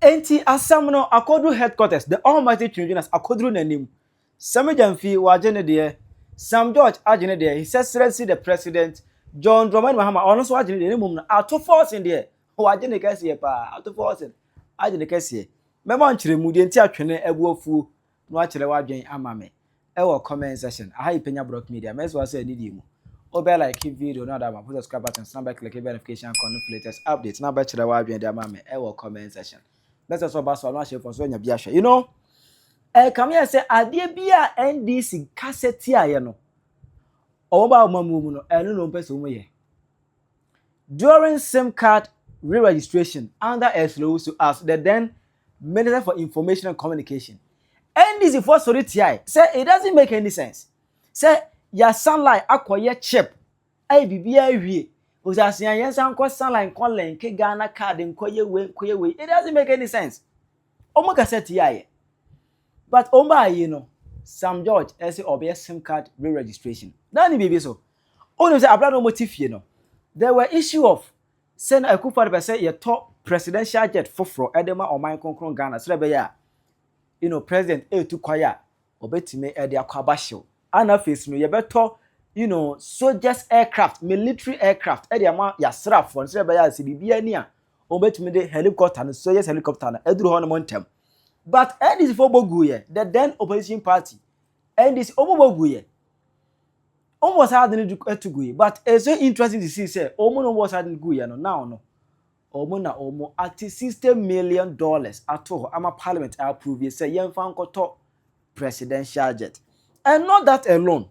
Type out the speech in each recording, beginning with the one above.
Enti asɛm no akɔduru headquarters, the almighty Twintwinase akɔduru n'anim. Sami Gyamfi, wagye ne deɛ, Sam George agye ne deɛ, his excellency the president, John Dramani Mahama, ɔno nso agye ne deɛ, na mmom no, Ato Forson deɛ, wagye ne kɛseɛ paa, Ato Forson agye ne kɛseɛ. Mɛma nkyerɛmu deɛ nti a twene abu afuo No akyerɛ wadwen ama me ɛwɔ comment section aha yi pɛ nya brock media mɛsɛ wasɔ yɛ nidie mu wo bɛ like video no ada ma po subscribe buttons na bɛ click bɛ notification icon no fi latest update na bɛ kyerɛ wadwen de ama me ɛwɔ comment section bɛsɛ sɛ ɔba so ano ahyɛ fɔ so anya bi ahwɛ you know ɛkame yɛ sɛ adeɛ bi a ndc kasa tiaeɛ no ɔmo ba ɔma mu mu no ɛno na ɔmpɛ sɛ ɔmo yɛ during sim card re-registration under a slow so as the then Minister for Information and Communication, NDC foɔ sɔre tiae sɛ it doesn't make any sense sɛ yɛasan line akɔyɛ chip ayɛ biribiara awie ɔsɛ asean yɛnsan nkɔ san line nkɔ link Ghana card nkɔyɛ wei nkɔyɛ wei it doesn't make any sense wɔn kasa tiaeɛ but wɔn baa yi no Sam George ɛsɛ ɔbɛyɛ sim card re-registration na ne biribi so wɔn nim sɛ abira na wɔn ti fie no there were issue of Sɛ na Akufo-Addo pɛ sɛ yɛtɔ presidential jet foforɔ de ma ɔman kronkron Ghana sɛdeɛ ɛbɛyɛ a you know president retu kwan a ɔbɛtumi de akɔ aba hyew a na afei nso no yɛbɛtɔ you know soldiers aircraft, military aircraft de ama y'asraafoɔ no sɛdeɛ ɛbɛyɛ a sɛ biribiara ni a wɔbɛtumi de helicopter no soldiers helicopter no aduru hɔnom ntɛm. But NDC-foɔ bɔ guiɛ, the then opposition party And this omo bɔ gu yɛ. Omo bɔ saa ade no eh, to gu yɛ. But it's so interesting to see sɛ omo na omo bɔ saa ade no gu yɛ no now no. Omo na omo ate sixty million dollars ato hɔ ama parliament a approve yɛ sɛ yɛmfa nkɔtɔ presidential jet. And not that alone.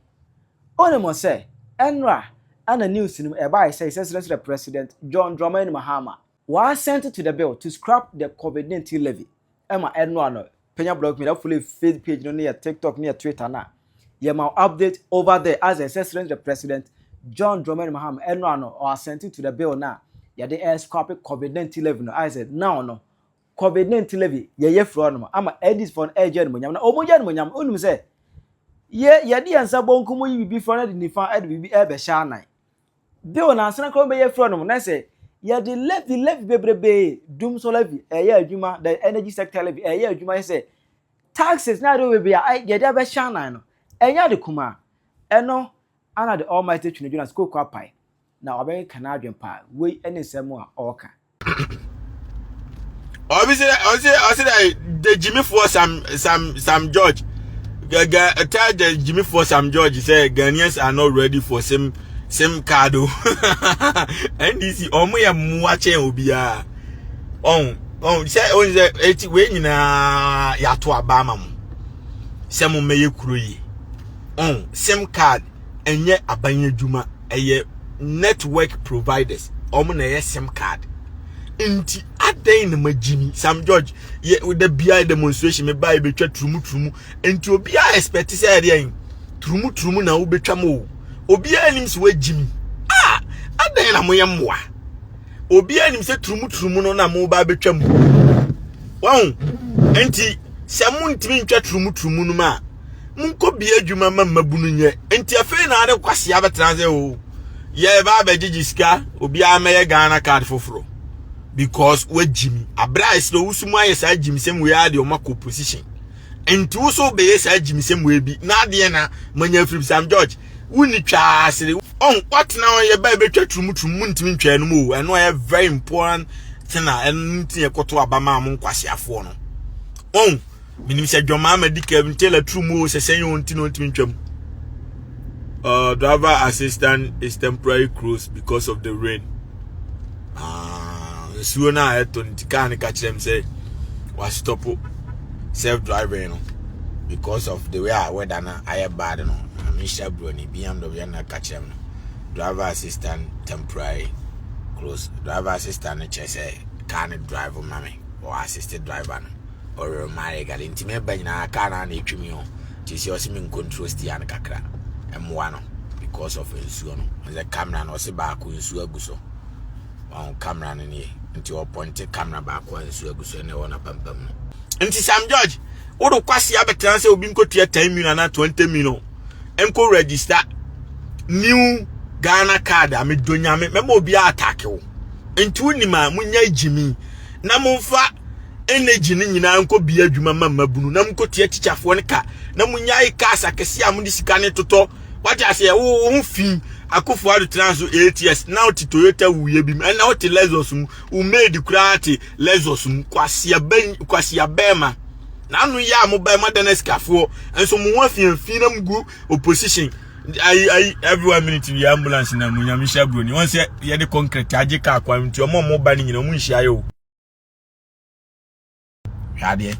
Onim sɛ ɛnora ɛna news no mu ɛbae sɛ yɛsrɛsrɛ president John Dramani Mahama. Wɔasɛnte to the bill to scrap the Covid nineteen levy ɛma ɛnoa no panya blog media fo levy face page no ne yɛ tiktok ne yɛ twitter no a yɛma wo update over there as ɛsɛ srɛn the president John Dramani Mahama ɛnoa no ɔasɛnte to the bill no a yɛde ɛɛ scrap Covid nineteen levy no ayɛ sɛ now no Covid nineteen levy yɛyɛ firi ɔnom ama NDC fo no ɛɛgye animonyam na ɔmo gye animonyam no onim sɛ yɛ yɛde yɛn nsa bɔnkum yi bibi fɔ no de nifa ɛde bibi ɛɛbɛhyɛ anan Bill na ansana kora wobɛyɛ frɛ no na sɛ yɛde levy levy bebrebee dum so levy ɛyɛ adwuma the energy sector levy ɛyɛ adwuma yɛ sɛ taxes na ɛde bebee a yɛde abɛhyɛ anan no ɛnyɛ ade kuma ɛno ana the almighty twene dwena sɛ koko apae na wabɛka n'adwen paa wei ɛne nsɛm a ɔɔka ɔbi sɛ ɔsɛ ɔsɛ dɛ the gyimifoɔ sam sam sam george gɛgɛ tell the gyimifoɔ sam george sɛ ghanaians are not ready for sim sim card o ndc ɔmo yɛ mmoa kyɛn obiara ɔn ɔn sɛ ɔn sɛ eti wei nyinaa yɛato aba ama mo sɛ mo mmɛyɛ kuro yi ɔn sim card. ɛnyɛ aban adwuma ɛyɛ network providers wɔn na ɛyɛ sim card nti adɛn na magyimi sam george yɛ da biara demonstration meba yɛ bɛtwa turumuturumu nti obiara expect sɛ ɛdeɛn turumuturumu na wobɛtwa mu o obiara nim sɛ wagyimi a adɛn na moyɛ mmoa obiara nim sɛ turumuturumu no na moba bɛtwa mu wɔn nti sɛ montumi ntwa turumuturumu no mu a monkɔ bia adwuma ma mmabunu nyɛ nti afei na ade kwasea bɛtena sɛ o yɛba abɛgyegye sika obiara mɛyɛ ghana card foforɔ because wagyi mi aberɛ a ɛsɛ wo so mu ayɛ saa gyimisɛm wei adeɛ ɔma kɔ position nti wo so bɛyɛ saa gyimisɛm wei bi na adeɛ na manya afiri sam george wonni twaa asere ɔn watena hɔ yɛ bɛɛ bɛtwa turumturum mu ntumi ntwa no mu o ɛno ɛyɛ very important thing a ɛno nti yɛkɔto aba maa mo nkwaseafoɔ no ɔn menim sɛ dwɔmaa ma di kɛm nkyɛ la turu mu o sɛ sɛn o nti na ɔntumi ntwam uh, driver assistant is temporary closed because of the rain ah, nsuo no a ɛtɔ nti kaa no ka kyerɛ m sɛ wastɔpo self driving no because of the way a weather no ayɛ bad no mehyɛ buroni bmw na ka kyerɛ m no driver assistant temporary close driver assistant no kyerɛ sɛ kaa no drive ma me or assisted driver no ɔremayɛ gale nti mɛba nyinaa kaa no na ɛtwi me o nti sɛ ɔse me nkontrol stia no kakra mmoa no because of nsuo no ɛsɛ camera no ɔse baako nsuo agu so ɔn camera no nie nti ɔpɔnte camera baako a nsuo agu so ɛna ɛwɔ n'apampam no nti sam george wode kwase abɛtena sɛ obi nkɔtua 10 million anaa 20 million ɛnkɔ register new ghana card a medɔ nyame mɛma obiaa atake wo nti wonim a munya gyimi na momfa energy no nyinaa nkɔ bia adwuma ma mmabunu na mkɔtua tikyafoɔ no ka na monyae cars akɛseɛ a mode sika no totɔ wate aseɛ wo ho fi akofo ado tena so 8 years na wote toyota wuyɛ bi mu ɛna wote lexus mu wo maid koraa te lexus mu kwasia bɛɛma na ano yɛ a mobɛɛ moadana sikafoɔ nso mo ho afiafi na mgu opposition ayi ayi every one minute bi ambulance na mu nyame hyɛ broni wɔn sɛ yɛde concrete agye kaa kwan nti ɔmo ɔmo ba ne nyina ɔmo nhyia yɛ o hwadeɛ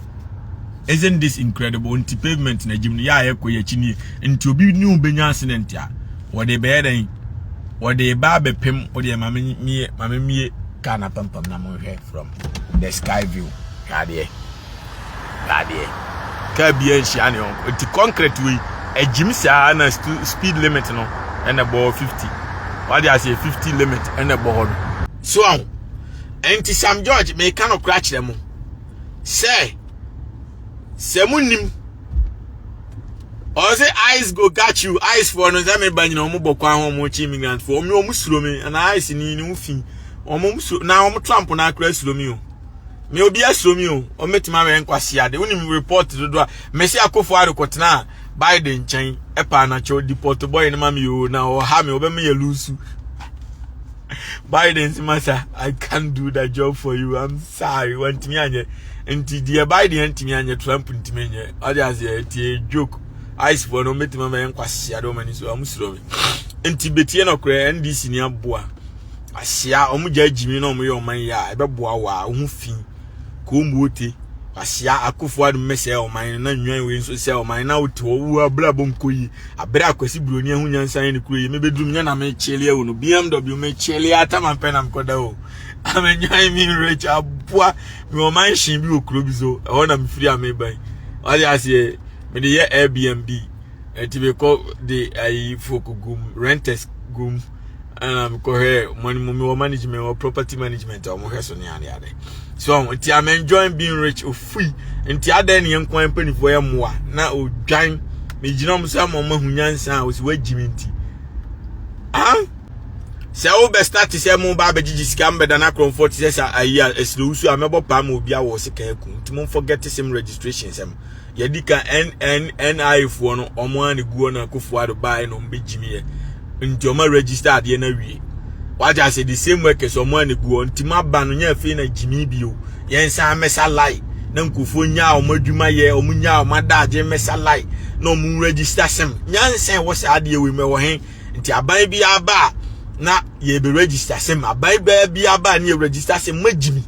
isn't this incredible nti pavement na gyim no yɛ a yɛkɔ yɛ akyi nie nti obi ne wo bɛnya accident a wɔde bɛyɛ dɛn wɔde ba abɛpem wɔde maame mie maame mie kaa na pampam na mo hwɛ from the sky view hwadeɛ Dadeɛ. Car biara nhyia ne yɔnko. Nti concrete wei, agyim saa na speed limit no ɛna ɛbɔ hɔ 50. Wade aseɛ 50 limit ɛna ɛbɔ hɔ no. So aho. Nti Sam George meka no kora kyerɛ mo. Sɛ, sɛ mo nim. Ɔse ice go got you, ice for no sɛ me ba nyina ɔmo bɔ kwan ho ɔmo kye immigrant for ɔmo ɔmo suro me na ice ni ne ho fi ɔmo ɔmo suro na ɔmo tramp na akora suro me o. me obi asuro mi o ɔmɛtumi awɛ nkwasea de wonim report dodo a mɛsi akofo arekɔtena a biden nkyɛn ɛpa anakyɛ ɔdi pɔtɔ bɔyɛ no ma me o na ɔha me ɔbɛma yɛ lusu biden si masa i can't do that job for you i'm sorry wantumi anyɛ nti deɛ biden antumi anyɛ trump ntumi anyɛ ɔde aseɛ ɛtie joke icefoɔ no ɔmɛtumi awɛ nkwasea de ɔmani so ɔmo suro me nti betie nɔkorɛ ndc ni aboa ahyia wɔn gya gyimi na wɔn yɛ wɔn yɛ a ɛbɛboa wɔ a wɔn fi kɔmbuote ahyia akofo adum bɛsɛɛ wɔn man na nwan wei nso sɛ wɔn man na wote hɔ wo abere abɔ nkɔ yi abere akwasi buroni ɛho nyansa yɛ ne kuro yi mebɛduru nyɛ na mekyele ɛwɔ no bmw mekyele atama mpɛ na mekɔda o amenwan me nwerɛkyi aboa me wɔn man hyen bi wɔ kuro bi so ɛhɔ na mefiri a meban ɔde aseɛ mede yɛ airbnb ɛti mekɔ de ayi fo kogum renters gum ɛna mekɔhwɛ money mu mewɔ management wɔ property management a wɔhwɛ so ne ade ade so nti i'm enjoying being rich ofui nti adɛn ne yɛn kwan mpanimfoɔ yɛ mmoa na odwan megyina mu sɛ ma ɔma ho nyansa a wɔsi wɔagyi me nti ah sɛ wobɛ start sɛ mo ba abɛgyegye sika mbɛda no akorɔmfoɔ te sɛ sɛ ayi a ɛsrɛ wusu a mɛbɔ paa ma obi awɔ sika aku nti momfɔ gɛte sɛm registration sɛm yɛdi ka NNNI foɔ no wɔn ara na guo na kofoɔ ado baeɛ na wɔn bɛgyimiɛ nti wɔn register adeɛ no awie wagye ase the same workers wɔn ara na guo nti ma ba no nyɛ afei na gyimi bio yɛn san mɛsa lai na nkofoɔ nyaa wɔn adwuma yɛ wɔn nyaa wɔn adagye mɛsa lai na wɔn register sɛm nyansa ɛwɔ saa adeɛ wei mɛwɔ he nti aban bi aba a na yɛbɛ register sɛm aban bɛɛ bi aba a ne yɛ register sɛm magyimi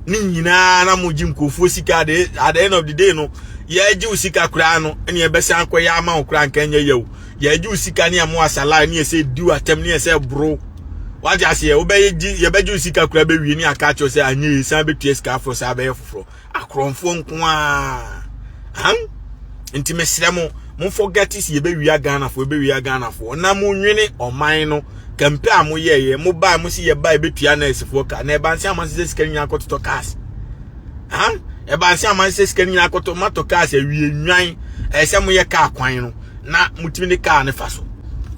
ne nyinaa na mogye nkurɔfoɔ sika at the, at the end of the day no yɛagye wo sika koraa no ne yɛbɛsan akɔyɛ ama wo koraa nka nyɛ yɛwo yɛagye wo sika ne yɛmo asalae ne yɛsɛ di w'atɛm ne yɛsɛ boro wagye aseɛ wobɛgye yɛbɛgye wo sika koraa bɛwie ne aka akyerɛ sɛ anyɛ yɛ san bɛtua sika aforɔ saa bɛyɛ foforɔ akorɔmfoɔ nko a han nti mesrɛ mo momfɔ gatis yɛbɛwia ghanafoɔ yɛbɛwia ghanafoɔ na monwene ɔman no kɛmpɛ a moyɛeɛ mobae mo se yɛba ɛbɛtua nɛɛsefoɔ ka na ɛbanse ama sesɛ sika no nyina akɔtotɔ cars ha ɛbanse ama sesɛ sika no nyina akɔtɔ matɔ cars awie nnwan ɛyɛ sɛ moyɛ car kwan no na motumi ne car no fa so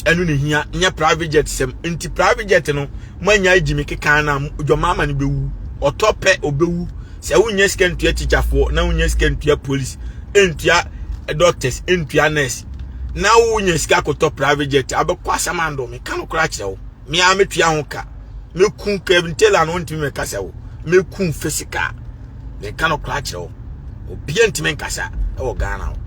ɛno ne hia nyɛ private jet sɛm nti private jet no moanya agyi me kekan no a dwɔmaama no bɛwu ɔtɔ pɛ ɔbɛwu sɛ wonya sika ntua tikyafoɔ na wonya sika ntua police ntua doctors ntua nurse na wonya sika akɔtɔ private jet abɛkɔ asamando meka no koraa kyerɛ wo mea metua ho ka meku Kevin Taylor no wontumi mɛkasa wo meku physical meka no koraa kyerɛ wo obia ntumi nkasa ɛwɔ Ghana wo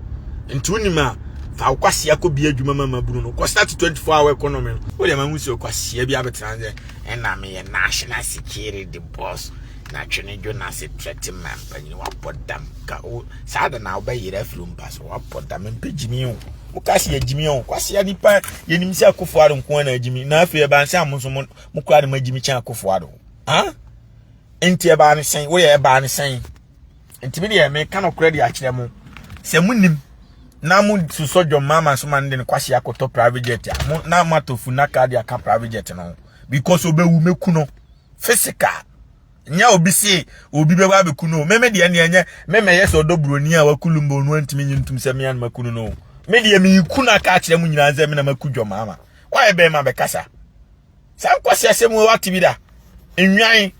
nti wonim a fa wokwasia kɔ bi adwuma ma ma bunu no kɔ start 24 hour economy no wode ma hu sɛ wokwasia bi abɛtena sɛ ɛna meyɛ national security boss na twene dwo na se trɛte ma mpanyin wapɔ dam ka o saa da na wobɛyere afiri mpa so wapɔ dam mpɛ gyimi o mo ka se agyimi o kwasea nipa yɛnim sɛ akofo ado nko na agyimi na afei ɛbaa sɛ mo nso mo kura de ma agyimi kyɛn akofo ado ha nti ɛbaa ne sɛn woyɛ ɛbaa ne sɛn nti me deɛ meka no korɛ de akyerɛ mo sɛ monim na mo susɔ dwom mama so ma no de no kwasea kɔtɔ private jet a mo na moatɔ funaka de aka private jet no because obɛwu mɛku no physical nyɛ obi se obi bɛba abɛku no me me deɛ neɛ nyɛ me mɛyɛ sɛ ɔdɔ buroni a waku lumba ɔno antumi nye ntom sɛ me anoma ku no no me deɛ meku no aka akyerɛ mu nyinaa sɛ me na maku dwɔ maama woayɛ bɛn ma bɛkasa saa nkwasi asɛm wɔ wate bi da nnwan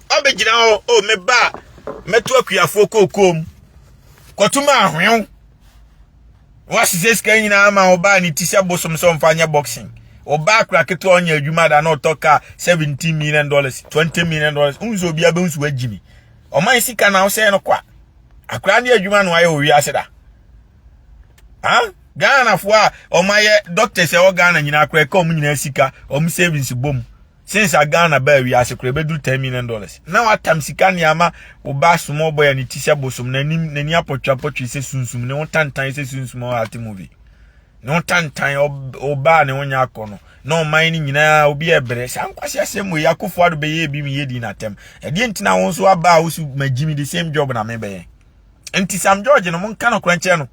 ɔbɛgyina hɔ o oh, meba mɛto akuafoɔ kookoom kɔtom ahwew Wɔahyehyɛ sika nyinaa ama wo baa ne ti sɛ bosom sɛ ɔmfa nyɛ boxing. Ɔbaa akora ketewa ɔnyɛ adwuma da na ɔtɔ kaa seventeen million dollars twenty million dollars n sɛ obi abɛhu so wagyi me. Ɔman sika na wosɛe no kwa. Akora ne adwuma no ayɛ wɔ wiase da. Ha? Ghanafoɔ a ɔmayɛ doctors ɛwɔ Ghana nyinaa akora ɛka ɔmo nyinaa sika ɔmo savings bom. Since a Ghana baa wiase kora ɛbɛduru ten million dollars. Na watam sika ne ama wo ba small boy a ne ti sɛ bosom, n'anim n'ani apɔtweapɔtwe sɛ sunsum, ne ho tantan sɛ sunsum a ɔate movie. Ne ho tantan ɔbaa ne ho nyɛ akɔ no na ɔman no nyinaa obi ɛbrɛ saa nkwasi asɛm wei akofo ado bɛyɛ ebi mu yɛ di n'atɛm ɛdeɛ nti na wɔn nso aba a wosu ma gyimi the same job na mebɛyɛ nti Sam George no monka no korankyɛ no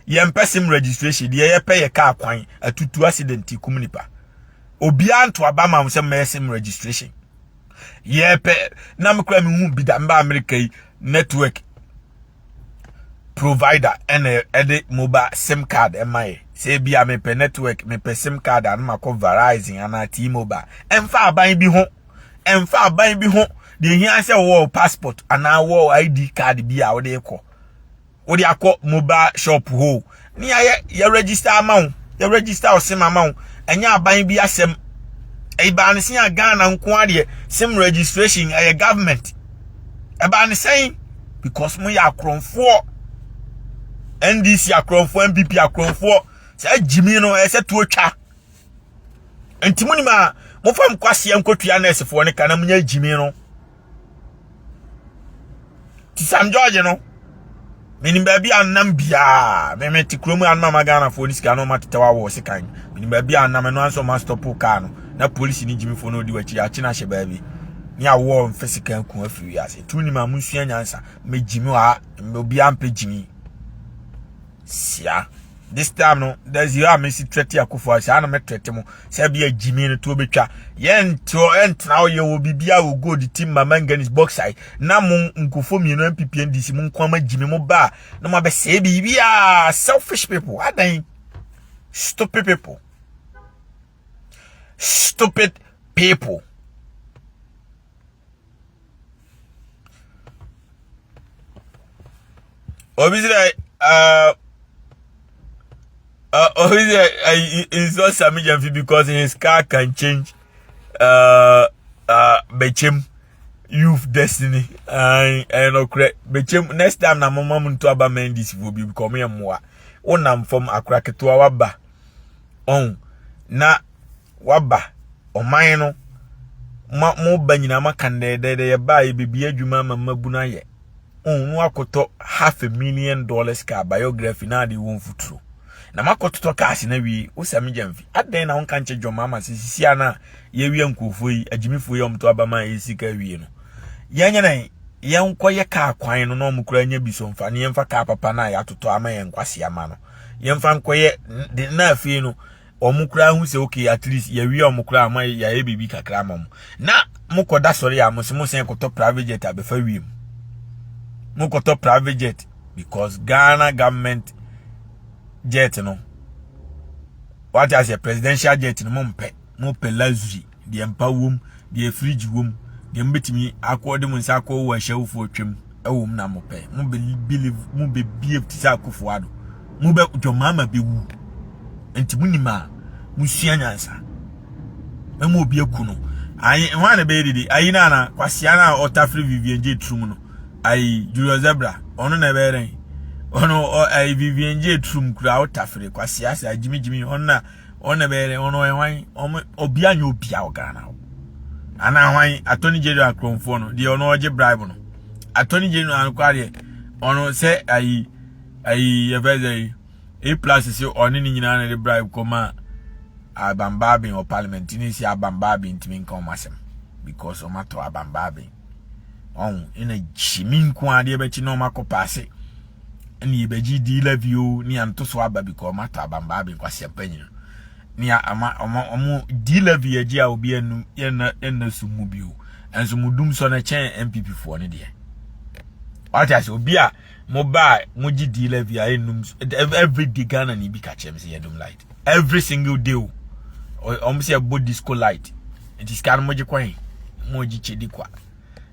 yɛmpɛ sim registration deɛ yɛpɛ yɛ kaa kwan atutu accident kum nipa obiara nto aba ma sɛ mɛsɛ m registration yɛpɛ na mekora me hu bi da mba amerika yi network provider ɛna ɛde mobile sim card ɛma yɛ sɛ bi a mepɛ network mepɛ sim card ano makɔ verizon anaa t-mobile ɛmfa aban bi ho ɛmfa aban bi ho deɛ hia sɛ wɔwɔ passport anaa wɔwɔ id card bi a wɔde kɔ wode akɔ mobile shop hɔ o ne yɛayɛ yɛ register ama wo yɛ register wo sim ama wo ɛnyɛ aban bi asɛm ɛbaa ne sɛn a ghana nko adeɛ sim registration ɛyɛ government ɛbaa ne sɛn because mo yɛ akorɔmfoɔ ndc akorɔmfoɔ npp akorɔmfoɔ saa gyimi no ɛsɛ tuo twa nti mo nim a mofa mkwaseɛ nkɔtua nɛɛsefoɔ no ka na monyɛ gyimi no nti sam george no menim baabi a nam biaa meme te kurom a mama ghanafoɔ no sika no ɔma tetɛw awɔ ɔse kan menim baabi a nam ɛno anso ɔma stɔpo kaa no na polisi ne gyimifoɔ no ɔdi wakyi akye no ahyɛ baabi ne awɔ mfɛ sika aku afiri wiase tumi nim a monsua nyansa mɛgyimi hɔ a obiaa mpɛ gyimi sia this time no there's you a mesi trɛte akufo a saa na mɛtrɛte mo sɛ bi a gyimi no to bɛtwa yɛnteɔ ɛntena hɔ yɛwɔ biribi a wɔ gold tim ma manganese bauxite na mo nkufo mmienu mpipia ndisi mo nko ama gyimi mo ba na mo abɛsɛe biribi a selfish people adan stupid people stupid people obi sɛ uh, uh, obi sɛ uh, he, he's not Sami Jamfi because his car can change uh, uh, Bechem youth destiny ɛyɛ nɔkorɛ Bechem next time na moma mu nto aba Mendy's fo bi because ɔmo yɛ mmoa wonam fam akora ketewa waba ɔn na waba ɔman no ma mo ba nyinaa ma kan dɛdɛdɛ yɛ ba yɛ bebi adwuma ma mmabu no ayɛ ɔn no akɔtɔ half a million dollars car biography na ade wɔn futuro na makɔtotɔ cars na wie wosa me gyamfi adɛn na wonka nkyɛ dwom ama sɛ sisi a na yɛwia nkurɔfoɔ yi agyimifoɔ yi ɔmto aba ma ɛyɛ sika wie no yɛnyɛ dɛn yɛnkɔyɛ kaa kwan no na ɔmokora nya bi so mfa ne yɛmfa kaa papa no a yɛatotɔ ama yɛn nkwase ama no yɛmfa nkɔyɛ de na afei no wɔn koraa hu sɛ okay at least yɛwie wɔn koraa ama yɛayɛ biribi kakra ama wɔn na mokɔda sɔre a mo se mo sɛn kɔtɔ private jet abɛfa wiem mokɔtɔ private jet because ghana government jet no wate aseɛ presidential jet no mompɛ mopɛ luxury deɛ mpa wom deɛ fridge wom deɛ mobɛtumi akɔ de mo nsa akɔ wɔ ahyɛwofoɔ twam ɛwom na mopɛ mobɛbelieve mobɛbiev te sɛ akofo ado mobɛ dwɔmaama bɛwu nti monim a mosua nyansa mɛma obi aku no ayi ho a na bɛyɛ dede ayi no ana kwasea no a ɔtafere vivian gye turum no ayi julius zebra ɔno na ɛbɛyɛ dɛn ɔno ayi vivian gye turum kura ɔtafere kwasea sɛ agyimigyimi ɔno na wɔn na bɛyɛ dɛ wɔn wɔyɛ hwan wɔn obia nyɛ obia wɔ ghana hɔ anaa hwan attorney general kurɔnfoɔ no deɛ ɔno ɔgye bribe no attorney general no kora deɛ ɔno sɛ ayi ayi yɛfɛ sɛ yi e plus sɛ ɔne ne nyinaa na de bribe kɔ ma abambaaben wɔ parliament ne si abambaaben ntumi nka wɔn asɛm because wɔn atɔ abambaaben ɔn ɛna gyimi nko adeɛ bɛkyi na wɔn akɔ paase. ne yɛbɛgye di la bio ne anto so aba bi kɔ ɔma tɔ abambaa bi nkwasi mpanyin ne ama ɔma ɔmo di la bi agye a obi anum yɛnna yɛnna so mu bio ɛnso mo dum sɔ no kyɛn npp foɔ no deɛ wate ase obi a mo ba a mo gye di la bi a ɛnum every day ghana ne bi ka kyerɛ m sɛ yɛdum light every single day o ɔmo sɛ ɛbɔ disco light nti sika no mo gye kwan mo gye kyɛ di kwa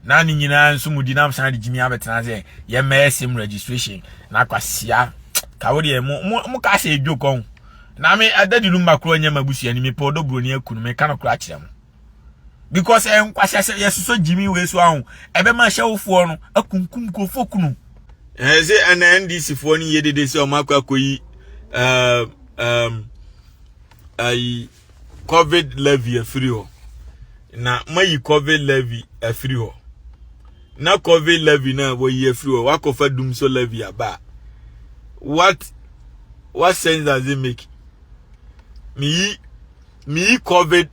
na ne nyinaa nso mu di nam san de gyimi abɛtena sɛ yɛmmɛyɛ sim registration na akwasia ka wo deɛ mo mo mo ka sɛ edwo kɔn na me ɛda di no mma koro nyɛ ma busua ni mepɛ ɔdɔ buroni akunu me ka no koro akyerɛ mo because ɛyɛ nkwasia sɛ yɛsosɔ gyimi wei so ahụ ɛbɛma ahyɛwofoɔ no akunkum nkurɔfoɔ kunu ɛɛ sɛ ɛna ndc foɔ no yɛ dede sɛ ɔmo akɔ akɔyi ɛɛm ɛɛm ayi covid levy afiri hɔ na mayi covid levy afiri hɔ na covid levy na wɔyi afiri hɔ wakɔfa dum so levy aba what what sense does it make meyi meyi covid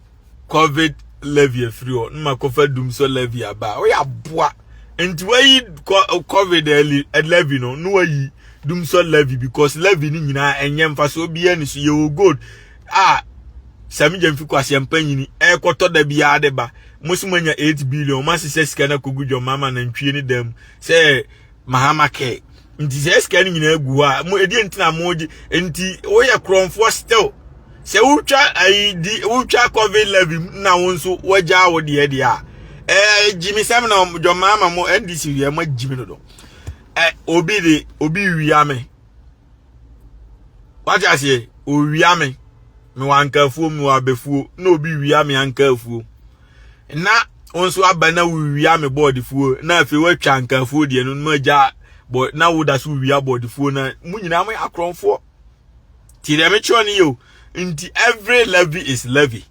covid levy afiri hɔ na makɔfa dum so levy aba woyɛ aboa nti wayi covid levy no na wayi dum so levy because levy no nyinaa ɛnyɛ mfasoɔ biara ni so yɛwɔ gold a sɛ megya mfi kwaseɛmpa nyini ɛrekɔtɔ da biara de ba mo so moanya 8 billion mo asesɛ sika no akɔgu dwammaa ma nantwie ne dan mu sɛ mahama kɛ nti sɛ sika no nyinaa gu hɔ a mo ɛdeɛ nti na mogye nti woyɛ korɔmfoɔ still sɛ wotwa ayi di wotwa covid levy na wo nso wagya wo deɛ deɛ a ɛɛ gyimi sɛm na dwammaa ma mo ndc wiɛ mo agyimi dodo ɛ obi de obi wia me wate aseɛ owia me mewɔ ankafuo mewɔ abɛfuo na obi wia me ankafuo na wo nso aba na wowia me bɔɔdefuo na afei woatwa ankafuo deɛ no no agya bɔ na woda so wia bɔɔdefuo na mo nyinaa mo yɛ akorɔmfoɔ ti deɛ mekyerɛ no yɛ o nti every levy is levy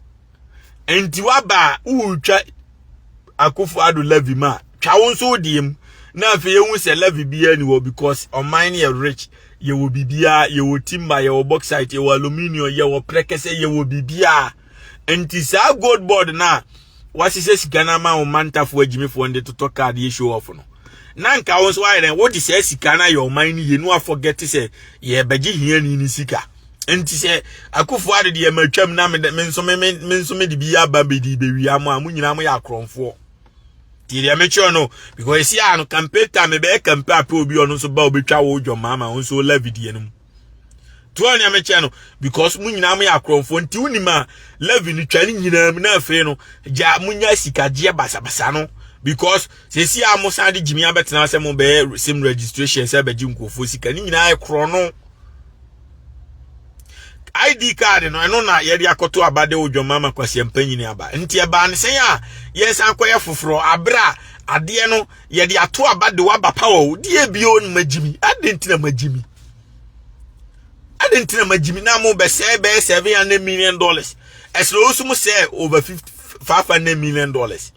nti waba a woretwa akufo ado levy ma twa wo nso wodeɛ mu na afei ehu sɛ levy biara ni hɔ because ɔman no yɛ rich yɛwɔ biribiara yɛwɔ timber yɛwɔ bauxite yɛwɔ aluminium yɛwɔ prɛkɛsɛ yɛwɔ biribiara nti saa gold board no a wɔahyehyɛ sika no ama wo mantafoɔ agyimifoɔ no de totɔ card yɛ show off no na nka wo nso ayɛ dɛn wode saa sika no ayɛ ɔman no yie no afɔgɛte sɛ yɛbɛgye hiani no sika nti sɛ akufo ade deɛ ma twam na me nso me me nso me de bi aba bedi bewia mo a mo nyinaa mo yɛ akorɔmfoɔ ti deɛ mekyerɛ no because esi a no campaign time mebɛyɛ campaign apɛ obi ɔno nso ba obetwa wo dwom maama ɔno nso ɔla vidie no mu to ɔne mekyerɛ no because mo nyinaa mo yɛ akorɔmfoɔ nti wonim a levi no twa ne nyinaa mu na afei no gya mo nya sikagyeɛ basabasa no because sɛsi a mo san de gyimi abɛtena sɛ mo bɛyɛ sim registration sɛ bɛgye nkurɔfoɔ sika ne nyinaa yɛ korɔ no id card no ɛno na yɛde akɔto aba de odwama ma kwasi mpanyini aba nti ɛbaa ne sɛn a yɛsan kɔyɛ foforɔ abere a adeɛ no yɛde ato aba de waba pawa o deɛ bio no magyimi ade nti na magyimi ade nti na magyimi na mo bɛsɛe bɛyɛ seven hundred million dollars ɛsɛ osu mo sɛ over fifty five hundred million dollars.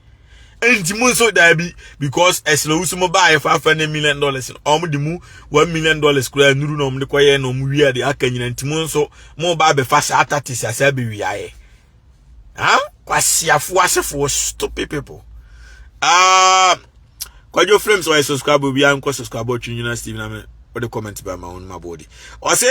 nti mu nso daabi because ɛsrɛ wusu mo baayɛ fafa ne million dollars no wɔn de mu one million dollars kura nnuru na wɔn de kɔyɛ na wɔn wia de aka nyina nti mu nso mo ba abɛfa saa tatis asa abɛwia yɛ ha kwasiafo asefoɔ stupid people aa ah, kwadwo flames ɔyɛ subscribe obiara nkɔ subscribe ɔtwe nyina steve na me wɔde comment ba ma wɔn ma bɔɔdi ɔse.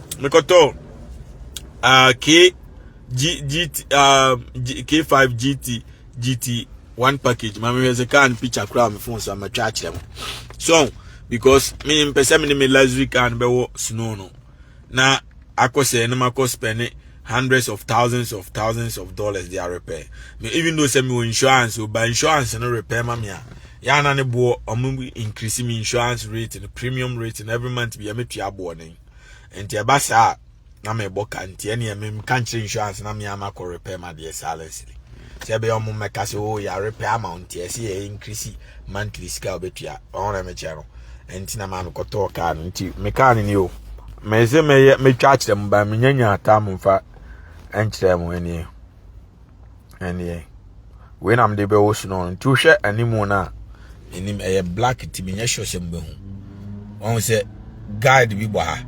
mekɔtɔ uh, k g gt uh, G, k5 gt gt one package ma mehwɛ sɛ car no picture koraa me phone so matwa akyerɛ mo so because me mpɛ sɛ me ne me luxury car no bɛwɔ snow no na akɔ sɛ ne makɔ spɛne hundreds of thousands of thousands of dollars they are repair me even though sɛ mewɔ insurance o ba insurance no repair ma me a yɛana ne boɔ ɔmo increase me insurance rate no premium rate no every month bia metua boɔ no nti ɛba saa a na mebɔ ka nti ɛneɛ memka nkyerɛ insurance na mea makɔ repɛ ma deɛ silently sɛ ɛbɛyɛ ɔmo mmɛka sɛ o oh, yɛarepɛ ama wo nti ɛsɛ yɛ increase monthly sika a wobɛtua ɔho na mekyɛ no nti na maa mekɔtɔɔ kaa no nti me kaa no ni o mese mɛyɛ mɛtwa akyerɛ mu ba menya nya ataa mo mfa nkyerɛ mo ɛneɛ ɛneɛ wei na mede bɛwɔ su no nti wohwɛ animu no a anim ɛyɛ black nti menyɛ sure sɛ mobɛhu ɔhu sɛ guide bi bɔ ha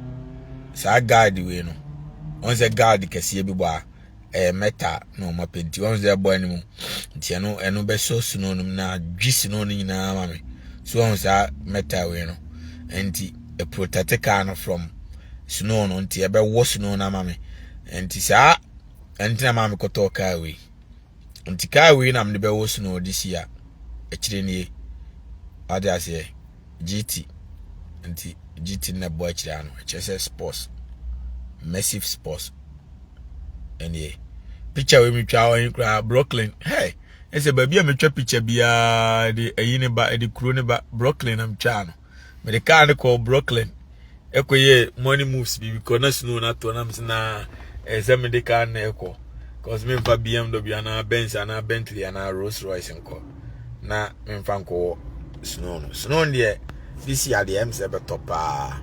saa guide wei no ɔhu sɛ guide kɛseɛ bi bɔ ha ɛyɛ mɛta na ɔma pɛ nti ɔhu sɛ ɛbɔ animu nti ɛno ɛno bɛsɔ su no nom na dwi su no no nyinaa ma me so ɔhu saa mɛta wei no nti ɛprotɛte kaa no from snow no nti ɛbɛwɔ snow no ama me nti saa ɛnti na maame kɔtɔɔ kaa wei nti kaa wei na mede bɛwɔ snow this year akyire nie wade aseɛ gt nti gt na ɛbɔ akyire ano ɛkyerɛ sɛ sports massive sports ɛnie picture wei metwa wɔ he koraa brooklyn hey ɛsɛ baabi a metwa picture biara de ɛyi ne ba ɛde kuro ne ba brooklyn na metwaa no mede kaa no kɔɔ brooklyn ɛkɔyɛ morning moves bi because na snow no atɔ nam sɛ na ɛyɛ sɛ mede kaa no ɛkɔ because memfa bmw anaa benz anaa bentley anaa rolls royce nkɔ na memfa nkɔwɔ snow no snow deɛ this year deɛ ɛm sɛ bɛtɔ paa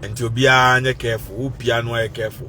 nti obiara nyɛ careful wopia no ayɛ careful